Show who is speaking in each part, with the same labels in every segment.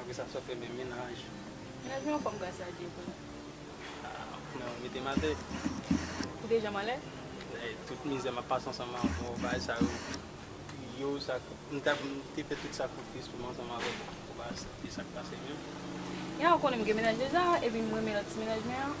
Speaker 1: Apre sa sot renmen menaj. Menaj mwen yon fanm
Speaker 2: gras a Dye kounye a. Aah
Speaker 1: nan ou mete m atè. Ou te
Speaker 2: janm anlè? Lè tout mizè
Speaker 1: m ap pase ansanm avè w bagay sa yo yo sa k m ta m te fè tout sakrifis pou m ansanm avè w pou bagay sa se sa k pase menm. Yah ou
Speaker 2: konnen m gen menaj deja epi m renmen lòt ti menaj mwen an.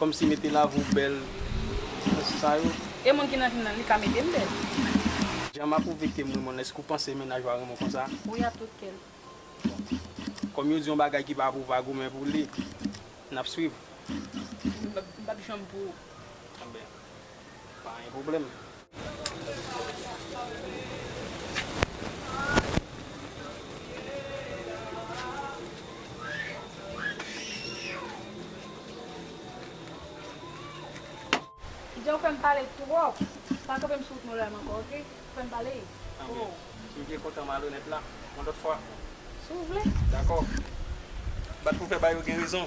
Speaker 1: Komsi mete love ou bel Pou sa yo. E moun ki nan vim nan li
Speaker 2: ka metem bel. Jan
Speaker 1: map ou vektem ri mon eske ou panse mennaj ou a renmen w konsa. Wi ak tout kèm.
Speaker 2: Bon Kom yo
Speaker 1: di yon bagay ki pa pou pa goumen pou li Nap swiv.
Speaker 2: Mpap janm pou ou. Bon ben
Speaker 1: Pa gen pwoblèm.
Speaker 2: Kidja ou fèm pale twòp. Pa kanpe m sou wout Montréal m ankò ok. Ou fèm pale twò.
Speaker 1: Si w te kontan malonèt la yon lòt fwa. Si w vle.
Speaker 2: Dakò.
Speaker 1: Bat pou fè ba yo gen rezon.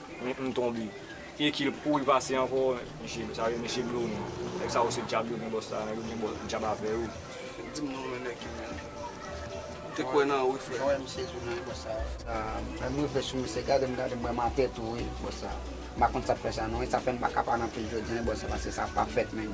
Speaker 3: Hum m tonbe e kil kouri pase ankò mesye sa yo mesye blue wi nèg sa yo se djab yo gen bòs la yo gen djab avè yo. Dim non men
Speaker 1: nèg yo menm. M te kwè nan ou wi frè. Mwen wè misye
Speaker 4: tou nan wi bòs sa. Mwen rive sou misye gadem gadem mwen mate tou wi bòs sa. M pa konn sak fè sa non e sa fèm paka pa nan pil jodi an wi bòs sa paske sa pafèt menn.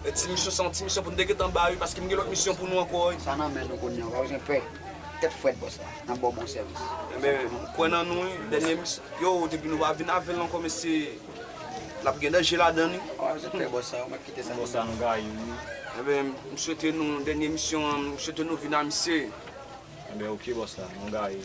Speaker 1: E ti misyon sa yon ti misyon pou nou te gentan ba wi paske m gen lòt misyon pou nou ankò wi. Sa nan men nou kounya ou
Speaker 4: pa bezwen pè. Tèt frèt bòs la nap baw bon sèvis. Enben m kwè
Speaker 1: nan nou wi dènye misyon. Yo depi nou pa vin avèl ankò mesye lap gen danje ladan wi. Ou pa bezwen pè bòs sa ou
Speaker 4: mèt kite sa pou nou. Bòs la nou gaye
Speaker 3: wi. Enben
Speaker 1: m swete nou dènye misyon an m swete nou vin a misye. Enben ok
Speaker 3: bòs la nou gaye.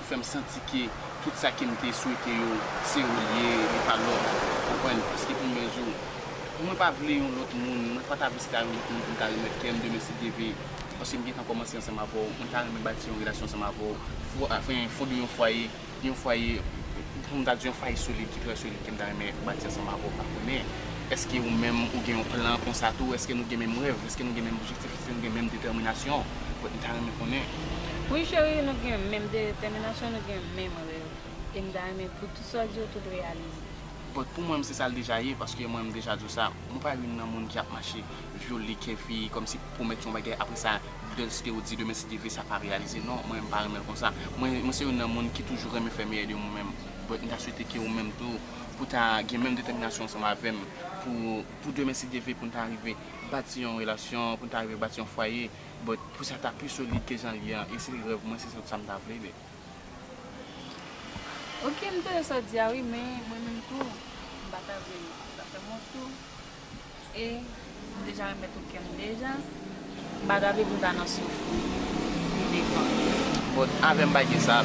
Speaker 5: fèm santi ke tout sa kem te swete yo se ou li ye li pa lòt ou konprann paske pou mwen zo mwen pa vle yon lòt moun mwen pa ta vle se ta yon lòt moun poum ta remèt kèm demen si Dye ve paske m gentan kòmanse ansanm avèw mwen ta renmen bati yon relasyon ansanm avèw fwa enfin fonde yon fwaye yon fwaye poum ta di yon fwaye solid ki trè solid kem ta renmen bati ansanm avèw pa konnen eske ou menm ou gen yon plan konsa tou eske nou gen menm rèv eske nou gen menm objektif. Si nou gen menm detèminasyon Kot m ta renmen konnen.
Speaker 2: Wi cheri nou gen menm detèminasyon nou gen menm rèv e m ta renmen pou tout sa w di yo tout reyalize. But pou mwen m se
Speaker 5: sa l deja ye paske mwen m deja di w sa mwen pa youn nan moun ki ap mache vyole kè fi kòmsi pwomèt yon bagay apre sa bèl si te ou di demen si Dieu veut sa pa reyalize non mwen m pa renmen l konsa mwen se youn nan moun ki toujou renmen fè meyè de mwen menm but m ta swete ke ou menm tou pou ta gen menm detèminasyon ansanm avè m pou demen si Dieu veut pou n ta rive bati yon relasyon, pou n ta rive bati yon fwaye, but pou sa ta pi solid ke jan l ye an, e se te rèv mwen, se tout sa m ta vle bae.
Speaker 2: Ok, m tande sa w di a wi, men mwen menm tou, m pa ta vle l ta fè m wont tou, e m deja remèt ou kè m deja, m pa ta vle pou n ta nan souf pi devan.
Speaker 5: But avè m pa gen sa,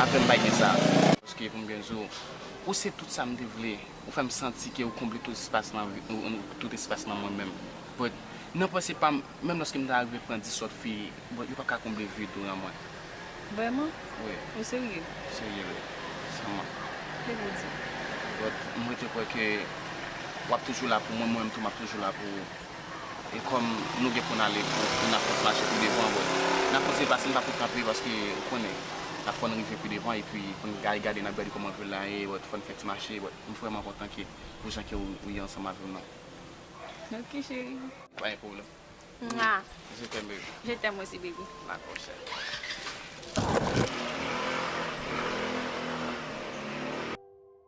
Speaker 5: avè m pa gen sa. Paske pou m byen di w, ou se tout sa m te vle. Ou fèm santi ke ou konble tout espas nan vi m, tout espas nan mwen menm. But, nan panse pa m, menm lòske m ta rive pran 10 lòt fi, but yo pap ka konble vid ou nan mwen. Vrèman?
Speaker 2: Wi. Ou
Speaker 5: serye? M
Speaker 2: serye wi.
Speaker 5: San mank. Ke Bondye
Speaker 2: beni w. But, m rete kwè ke
Speaker 5: wap toujou la pou mwen, mwen menm tou map toujou la pou ou. E kòm nou gen pou n ale pou n ap fòs mache pi devan wè. N ap kontinye pase n pa pou kanpe paske ou konnen n ap fò n rive pi devan epi pou n al gade n ap gade kòman vil la ye wè fò n fè ti mache wè m vrèman kontan ke pou jan ke ou ye ansanm avè m nan. Ok cheri.
Speaker 2: Pa gen pwoblèm.
Speaker 5: Mwa. Je t'aime baby. Je t'aime aussi baby.
Speaker 2: Dakò cheri.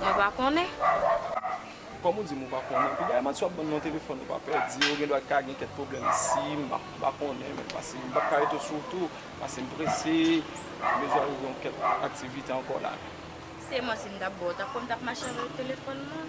Speaker 3: Mwen
Speaker 2: pa konnen.
Speaker 3: Kòm ou di m ou pa konnen, pi dèyèman si w ap ban m non telefòn ou pa pèdi, ou gendwa ka gen kèk pwoblèm si m pa m pa konnen menm pase m pa p ka rete sou w tou pase m prese, m bezwen rive yon kèk aktivite ankò la. Se manti m
Speaker 2: t ap ba w, w t ap kwè m t ap mache avèk telefòn mwen?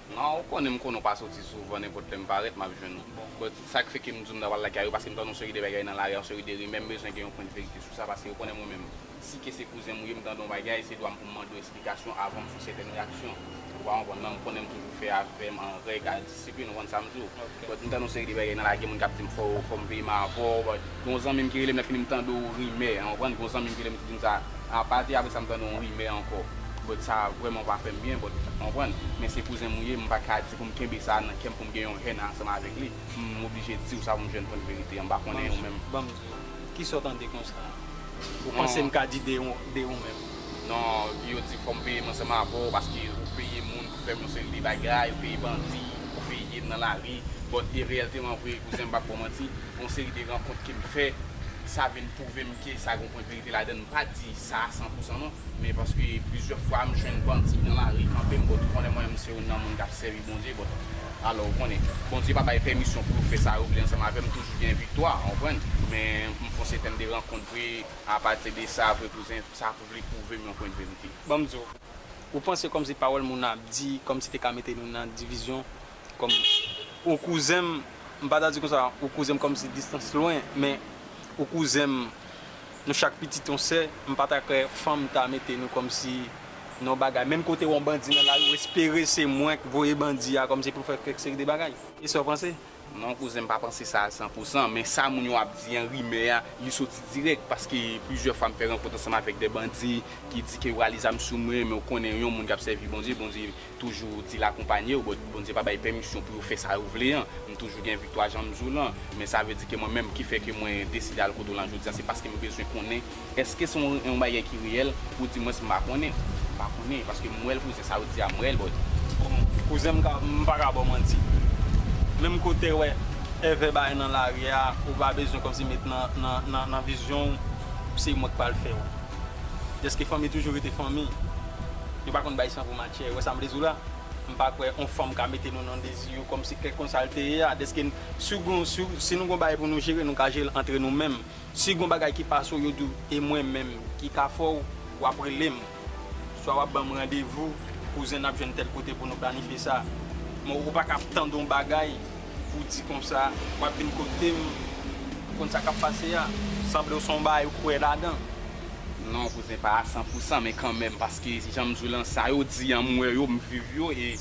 Speaker 6: Nan ou konnen m
Speaker 5: konnen w pa soti souvan nenpòt lè m parèt m ap jwenn ou bon sa k fè ke m di w m ta pral lage a yo paske m tande yon seri de bagay nan lari a yon seri de rimè m bezwen gen yon pwent verite sou sa paske yo konnen mwen menm si ke se kouzen m ou ye m tande yon bagay se dwa m pou m mande w esplikasyon avan m fè sètèn reyaksyon ou pa konprann nan m konnen m toujou fè avè m an règ a disiplin ou konn sa m di w. But m tande yon seri de bagay nan lage moun kap dim fòw fòm veye ma avòw but gon zanmim ki relem lè fini m tande yon rimè ou konprann gon zanmim ki relem ki dim sa a pati apre sa m tande yon rimè ankò but sa vrèman pa fèm byen but ou konprann men se kouzenm ou ye m paka di poum kenbe sa nan kèm poum gen yon haine ansanm avèk li m oblije diw sa poum jwenn vérité an m pa konnen ou menm. Manzou,
Speaker 6: kisa w tande konsa? Ou panse m ka di de ou menm? Non
Speaker 5: yo di fòm peye mwen seman avèw paske ou peye moun pou fèm yon seri de bagay ou peye bandi pou peyem nan lari but e reyèlteman vre kouzen m pap baw manti yon seri de rankont kem fè sa vin pwouvem ke sa gon pwent verite ladann m pa di sa a san pou san non men paske plizyè fwa m jwenn bandi nan lari kanpem but ou konnen mwen menm se yon nan moun kap sèvi Bondye but alò ou konnen Bondye pa bay pèmisyon pou yo fè sa yo vle ansanm avèm toujou gen viktwa ou konprann men m fonse fèm de rankont vre. A pati de sa vre kouzen, sa pou vle pwouve m yon kwen verite. Ban m di w.
Speaker 6: Ou panse kòmsi pawòl moun nan ap di kòmsi te ka mete nou nan divizyon kòm ou kouzen m, m pa ta di konsa ou kouzen m kòmsi distans lwen men ou kouzen m nou chak pitit yon sè, m pa ta kwè fanm ta mete nou kòmsi nan yon bagay menm kote wè yon bandi nan lari ou espere se mwen k voye bandi a kòmsi pou fè kèk seri de bagay. E sa w panse? Non
Speaker 5: kouzen m pa panse sa a san pou san, men sa moun yo ap di an, rimè a, li soti dirèk, paske plizyè fwa m fè rankont ansanm avèk dè bandi ki di ke yo rale zam sou mwen, men ou konnen yon moun k ap sèvi Bondye, Bondye toujou di l akonpanye ou, but Bondye pa bay pèmisyon pou yo fè sa yo vle an, m toujou gen viktwa jan m di w lan, men sa vle di ke mwen menm ki fè ke mwen deside al kote w lan jodi a se paske m bezwen konnen Eske se yon bagay ki reyèl? Ou di mwen m pa konnen. M pa konnen paske m wè l kouzen sa ou di a m wè l but. Bon kouzen
Speaker 6: m pa ka ba w manti. Menm ke w te wè èvè bagay nan lari a ou pa bezwen kòmsi met nan vizyon w se mwen k pral fè w. Dèske fanmi toujou rete fanmi. Yo pa konn bay san pou matyè. Ou wè sa m vle di w la? M pa kwè yon fanm ka mete nou nan dezi yo kòmsi kèk konsa l te ye a. Dèske si nou gen yon bagay pou nou jere nou ka jere l antre nou menm. Si gon bagay ki pase w yo di w e mwen menm ki ka fè w, wap rele m. Swa wap ban m randevou, kouzen nap jwenn tèl kote pou nou planifye sa. Men ou pa ka ap tande yon bagay pou w di konsa wap vin kote m pou konn sa kap pase a. Sanble w son bagay ou kwè ladan. Non
Speaker 5: kouzen pa a san pou san men kanmenm paske jan m di w lan sa yo di an m wè yo, m viv yo e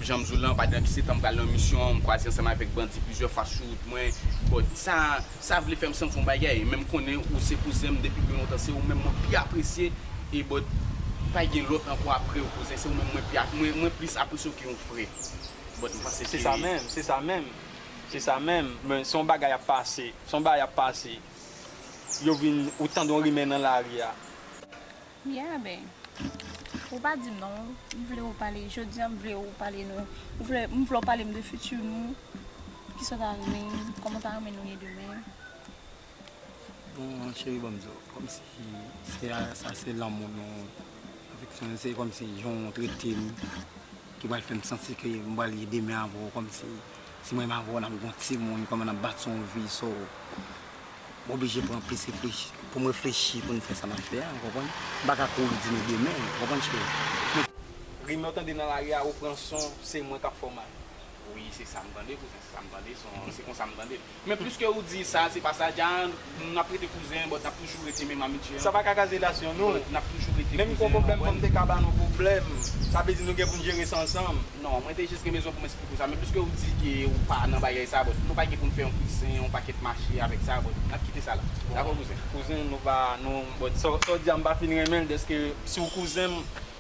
Speaker 5: jan m di w lan pa depi se tan m pral nan misyon an m kwaze ansanm avèk bandi plizyè fwa sou wout mwen bò di sa. Sa vle fèm santi yon bagay menm konnen ou se kouzenm depi byen lontan se ou menm mwen pi apresye e but pa gen lòt ankò aprew kouzen se ou menm mwen pi mwen plis apresyew ke yon frè but mpanse ke. Se sa menm se sa menm se sa menm men son bagay ap pase son bagay ap pase yo vin ou tande yon rimè nan lari a.
Speaker 2: Yeah bee. Ou pa di non. M vle ou pale jodi an m vle ou pale nou ou vle m vle ou pale m de futur nou kisa ou ta renmen koman ou ta renmen nou ye demen. Bon
Speaker 4: cheri banm diw kom si se a sa se lanmou nou afeksyon nou se kom si jan ou tretem ki pral fem santi ke m pral ye demen avèw kom si. Si mwen ma vòl ak gon ti moun kòman nap bat son vi so m oblije pran plis reflechi pou m reflechi pou m fè sa map fè a ou konprann m pa ka kouri di nou demen ou konprann cheri. Rim lè w tande
Speaker 6: nan lari a ou pran son se mwen kap fè w mal. Wi se sa
Speaker 5: m tande kouzen se sa m tande se konsa m tande l. Men pliske ou di sa se pa sa Jaand nou ap rete kouzen but nap toujou rete menm amitye an. Sa pa ka kaze relasyon
Speaker 6: nou. But nap toujou rete kouzen an. Menm
Speaker 5: gon pwoblèm fòm te ka
Speaker 6: ba nou pwoblèm. Sa vle di nou gen poun jere sa ansanm. Non mwen te jis gen bezwen
Speaker 5: poum esplike ou sa men pliske ou di ke ou pa nan bagay sa but nou pa gen poun fè yon kouzen yon pakèt mache avèk sa but nap kite sa la. Dakò kouzen? Kouzen nou pa non
Speaker 6: but sa ou di a mpa fin renmenl deske si ou kouzenm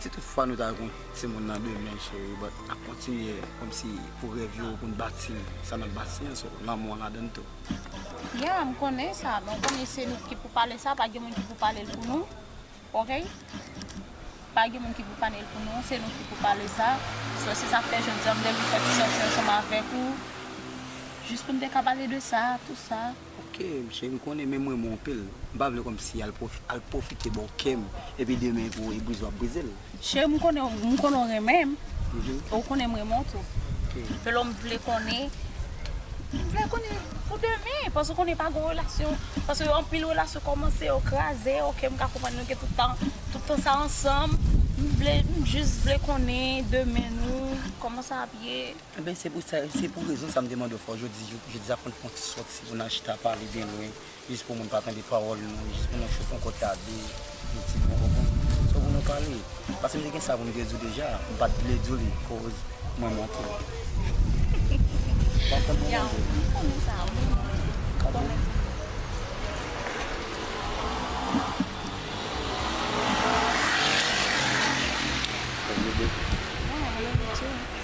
Speaker 4: Si tout fwa nou ta gen yon timoun nan demen cheri but nap kontinye komsi pou rèv yo pou n bati sa nap bati an so lanmou an ladann tou. Yeah m
Speaker 2: konnen sa men w konnen se nou ki pou pale sa pa gen moun ki pou pale l pou nou ok pa gen moun ki pou pale l pou nou se nou ki pou pale sa so se sak fè jodi an m te vin fè ti sòti ansanm avèk ou jis pou n te ka pale de sa tout sa. Ok msye m
Speaker 4: konnen men mwen mwen pil m pa vle komsi al al pwofite baw kèm epi demen pou e brize wap brizel. Cheri m konnen
Speaker 2: m konnen w renmen m e w konnen m renmen w tou Pelo m vle konnen m vle konnen pou demen paske w konnen pa gon relasyon paske anpil relasyon komanse yo kraze ok m ka konprann nou gen tout tan tout tan sa ansanm m vle m jis vle konnen demen nou koman sa ap ye. Enben se pou sa,
Speaker 4: se pou rezon sa m te mande w fè w jodi, jodi sa pou n fè yon ti sòti pou n al chita pale byen lwen, jis pou moun pa tande pawòl nou, jis pou nou chou fon kòt la 2, yon ti bon bon bon, sou pou nou pale. Paske m te gen sa pou m te di w deja, m pa t vle di w li koz mwen manke w. Wap konn pou mwen di. M
Speaker 2: konnen sa, m konnen sa. Ka bon? Ou vle bebe? Mwen vle bebe.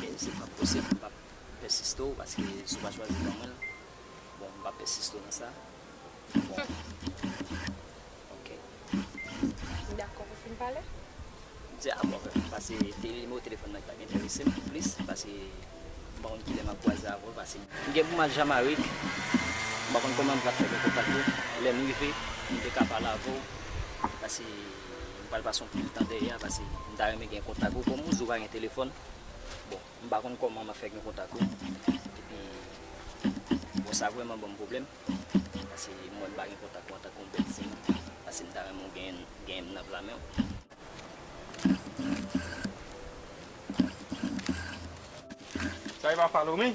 Speaker 7: Kem se pap posib m pap pèsiste w paske si w pa chwazi ban mwen l bon m pap pèsiste w nan sa bon ok.
Speaker 8: M dakò pou fin pale. M di a bon
Speaker 7: fè m pase de nimewo telefòn nan ki ta enterese m plis pase m pa konn kilè map kwaze avè w pase. M gen pou m al Jamarik m pa konn kòman m pral fè gen kontak ou lè m rive m te ka pale avè w pase. M pral pase yon pil tan dèyè a pase m ta renmen gen kontak ou. Kòm ou di ou pa gen telefòn, bon m pa konn kòman m ap fè gen kontak ou. Epi bon sa vrèman ban m pwoblèm pase m wè m pa gen kontak ou antanke yon bèl siy pase m ta renmen ou genyen m nan pla men w.
Speaker 6: Sa e pa Phalomé?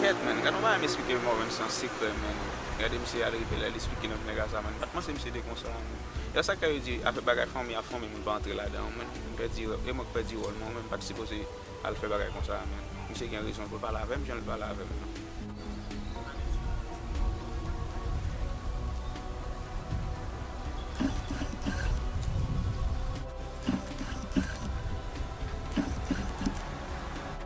Speaker 9: Kèt man, gad yon bagay m esplike Morvan san sekrè man, gade misye al rive la li esplike lòt nèg a sa man, m pat panse misye te konsa man, e sak fè yo di afè bagay fanmi ak fanmi moun pa antre ladan man, m pèdi rèv, e mwen k pèdi wòl mwen, mwen menm m pat sipoze al fè bagay konsa man, misye gen rezon l pou l pale avèm jan l pale avèm lan.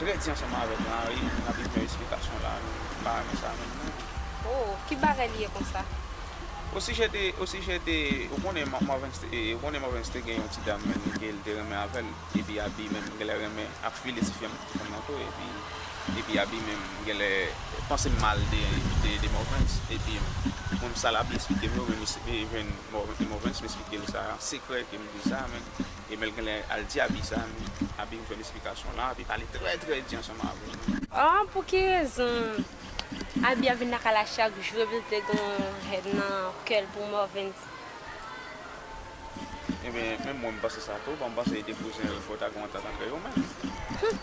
Speaker 9: Trè di ansanm avèk Mari nou nan bezwen esplikasyon la nou pa renmen sa menm non. Oh
Speaker 8: ki bagay li ye konsa. Osijè
Speaker 9: de osijè de ou konnen Marvens te ou konnen Marvens te gen yon ti dam menm li te li te renmen avèl epi Abi menm genlè renmen ap file ti fanm ti fanm nan tou epi epi Abi menm genlè panse mal de de de Marvens epi mwen menm sa l Abi esplikem yo menm li jwenn Marvens m esplikel sa sekrè ke m di sa menm. Emel genlè al di Abi sa men Abi vin jwenn esplikasyon la Abi pale trè trè di ansanm avèl men. Aww pou ki
Speaker 8: rezon Abi ap vin nan kay la chak jou epil te gen yon haine nan kèl pou Morvens.
Speaker 9: Ebyen menm mwen m panse sa tou bon m panse li te kouzenl fòk ta gen yon antant antre yo menm. Humm.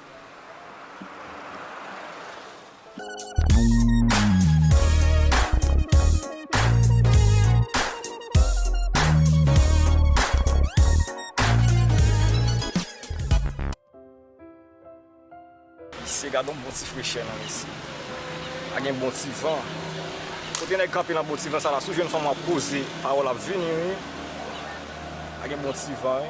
Speaker 3: Mesye gadon bon ti frechè non mesye Pa gen bon ti van Kote nèg kanpe nan bon ti van sa la Si w jwenn fanm w ap poze pawòl ap vini wi Pa gen bon ti van wi.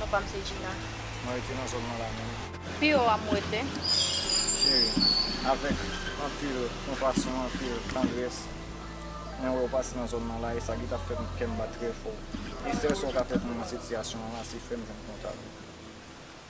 Speaker 3: Non
Speaker 2: pam
Speaker 3: se
Speaker 2: Gina.
Speaker 3: Mwen
Speaker 2: rete nan
Speaker 3: zòn mwen la
Speaker 2: menm. Pi yo a m
Speaker 3: rete.
Speaker 2: Cheri,
Speaker 3: avèk anpil konpasyon, anpil tandrès, Mwen wè ou pase nan zòn mwen la e sa ki ta fè kè m bat trè fò. E sèl sa ou ka fè pou mwen nan sitiyasyon an la se fè m jwenn kontak ou.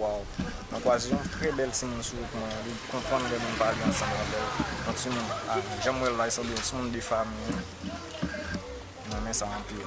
Speaker 3: Waww mwen kwaze yon trè bèl timoun sou wout mwen an li konprann lè moun pale ansanm avèl yon timoun ah janm wèl la li sanble yon timoun de fami wi mwen renmen sa anpil.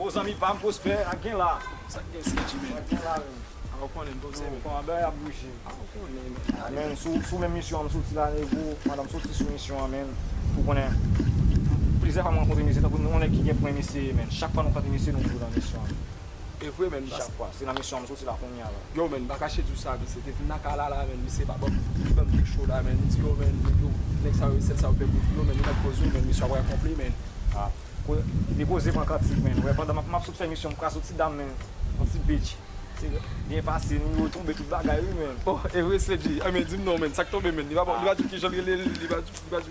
Speaker 3: Oh zanmi pam prospè ak gen la. Sak gen CG menn.
Speaker 5: Ak gen la menn. Aw
Speaker 3: konnen bon
Speaker 5: se menn. Koman bagay ap bouje.
Speaker 3: Aw konnen menn. Menn sou menm misyon an m soti la nego pandan m soti sou misyon an menn ou konnen plizyè fwa m rankontre mesye tankou yon nèg ki gen pwen mesye ye menn chak fwa nou rankontre mesye nou toujou nan misyon an. Evre
Speaker 5: menn chak fwa se nan misyon m
Speaker 3: soti la kounya la. Yow menn m pa kache diw sa
Speaker 5: visye te vin nan kay la la menn visye pa banm li banm kek cho la menn li di yo menn yo nèg sa yo resèt sa yo fè pou yo menn yo met poz yo menn misyon ap ranpon pli menn ah
Speaker 3: kwe li poze pran kantik menn wè pandan map map sot fè misyon m kras yon ti dam menn yon ti bitch se byen pase ni yo tonbe tout bagay wi menn. Oh evre slady
Speaker 5: an men dim non menn sak tonbe menn li pa li pa di kijan l rele l li pa di.